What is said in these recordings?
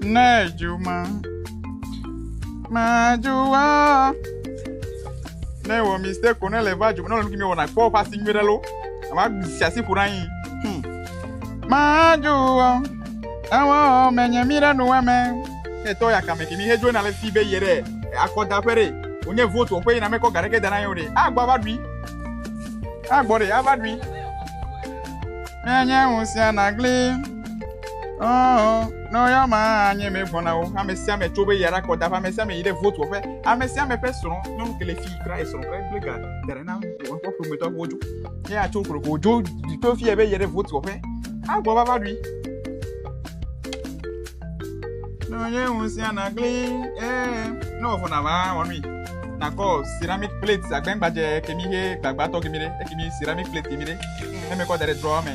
Ne dzuma madzua ne wɔ mistake ko ne le va dzuma ne wɔ nu kimi wɔna kpɔ ƒe asi nyui ɖe lo ava si asi ƒo ɖe anyi hmm. madzua ewɔ menye mi ɖe nu wame etɔ ya kame kimi hedzo na le fi be yɛ ɖe akɔda ƒe ɖe wonye vote wɔƒe yina mekɔ ga ɖeke da na yewo ɖe agbɔ ava ɖui agbɔ ɖe ava ɖui menye ŋusẽ nagli. Oh, no ya ma nye me vɔna o. Ame sia ame tso be yara kɔ da ƒe ame sia ame yi ɖe vote wɔƒe. Ame sia ame ƒe srɔ̃ nyɔnu kele fi kura esrɔ̃ kura kple ga da ɖe na woƒe ƒometɔ wo dzo. Ye atso koko dzo to fi be yi ɖe vote wɔƒe. Agbɔ va va ɖui. No nye ŋusẽ na gli eh ne wɔvɔna va wɔnui. Nakɔ ceramic plate agbɛngbadze kemi he gbagbãtɔ kemi ɖe ekemi ceramic plate kemi ɖe. Eme kɔ da ɖe drɔ me.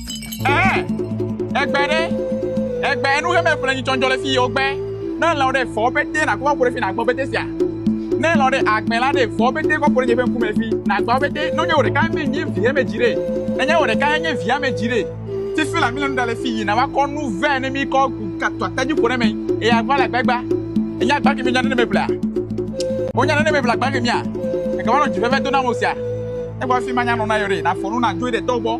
Ɛɛ, egbe ɖe, egbe enu ɣe me ƒle nyitsɔnjɔ le fi yewo gbe. Ne elɔ ɖe fɔ be te na kɔkɔ ɖe fi na gbɔ be te sia. Ne elɔ ɖe agbe la ɖe fɔ be te kɔkɔ ɖe nye ƒe ŋku me fi na gbɔ be te nɔ nye wò ɖeka me nye vi eme dzi ɖe. Enye wò ɖeka enye vi eme dzi ɖe. Ti fi la mi le nu ɖa le fi yi na wa kɔ nu vɛ ne mi kɔ gu ka tɔ ate dzi ƒo ɖe me eye agba le agba gba. Enye agba ke mi nya ne ne me ƒlea. Wo nya ne ne me ƒle agba ke mia. Eke wa nɔ dzi veve do na mo sia. Egba fi ma nya nɔ na yewo ɖe na fɔ nu na dzo yi ɖe tɔwo gbɔ.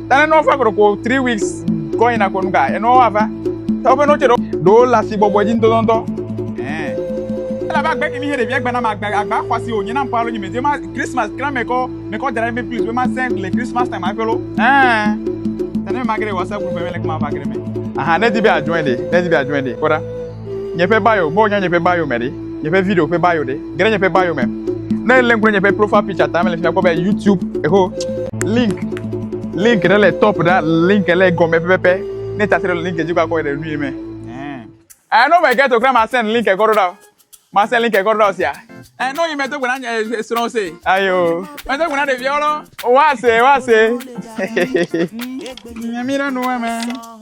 Tane no fa koɖo ko three weeks kɔ yina ko nu ka enɔ wa va. Tɔ ƒe no tse ɖo. Ɖo la si bɔbɔ dzi ŋutɔtɔtɔ. Ɛɛ. Ela ba gbe kimi he ɖevia gbe na ma gbe agba xɔ si o nye na mpa lo nyi me je ma Christmas kran me kɔ me kɔ dra me please be ma se le Christmas time a felo. Ɛɛ. Tane me ma gre wa se group me le kuma va gre me. Aha ne di be a join de ne di be a join de kɔɖa. nye ƒe bio be wonya nye ƒe bio me ɖe, nye ƒe video ƒe bio ɖe, ge ɖe nye ƒe bio me. Ne èlé ŋku ɖe nye ƒe profile picture ta me le fi mia akpɔ be YouTube eho link link ɖe le top ɖa link le gɔme pɛpɛpɛ. Ne tati ɖe le link dzi kɔ akɔ ɖe nui me. Eh, no me get okra ma send link ekɔ ɖo ɖa o. Ma send link ekɔ ɖo ɖa o sia. Eh, no yi me do gbe na nye srɔ̃ se. Ayo. Me do gbe na ɖeviawo lɔ. Wa se, wa se. Nyamira no wa me.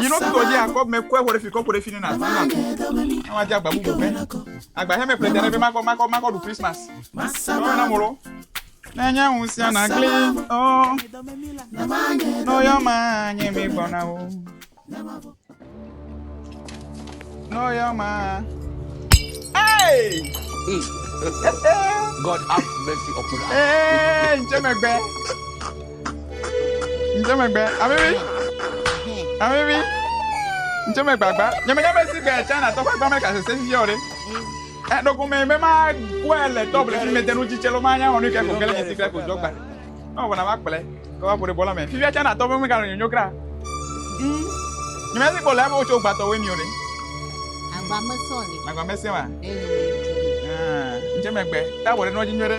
Nyinɔ tutɔ dzi akɔ mɛ kɔɛ wɔ ɖe fi kɔkɔ ɖe fi ne na tún lakɔ. Àwọn adi agba bubu mɛ. Agba hɛmɛ ƒle tɛ ɖe fi makɔ makɔ makɔ ɖu Christmas. Tɔwɔ na molo. Ne nye ŋu sia na gli ɔ. Nɔ yɔ ma nye mi gbɔna o. Nɔ yɔ ma. Hey! God have mercy upon us. Hey, ntse megbe. Ŋdze megbe. Avivi. Avivi. Ŋdze megbe agba. Nyemenya be si gbe China tɔ ƒe agba me gasese sisi o ɖe. Eɖoko me be ma kɔe le tɔble fi mede nu tsitse lo ma nya wɔnu ke ko kele nye sikle ko dzɔ gba. Na wɔna ma kplɛ. Ke wa ƒo ɖe bɔla me. Fifia China tɔ be me gano nyonyo kra. Nyemenya si gbe le abo tso gbatɔ we mi o ɖe. Agba me sɔ le. Agba me se wa. Ŋdze megbe. Ta wɔ ɖe nɔdzi nyɔ ɖe.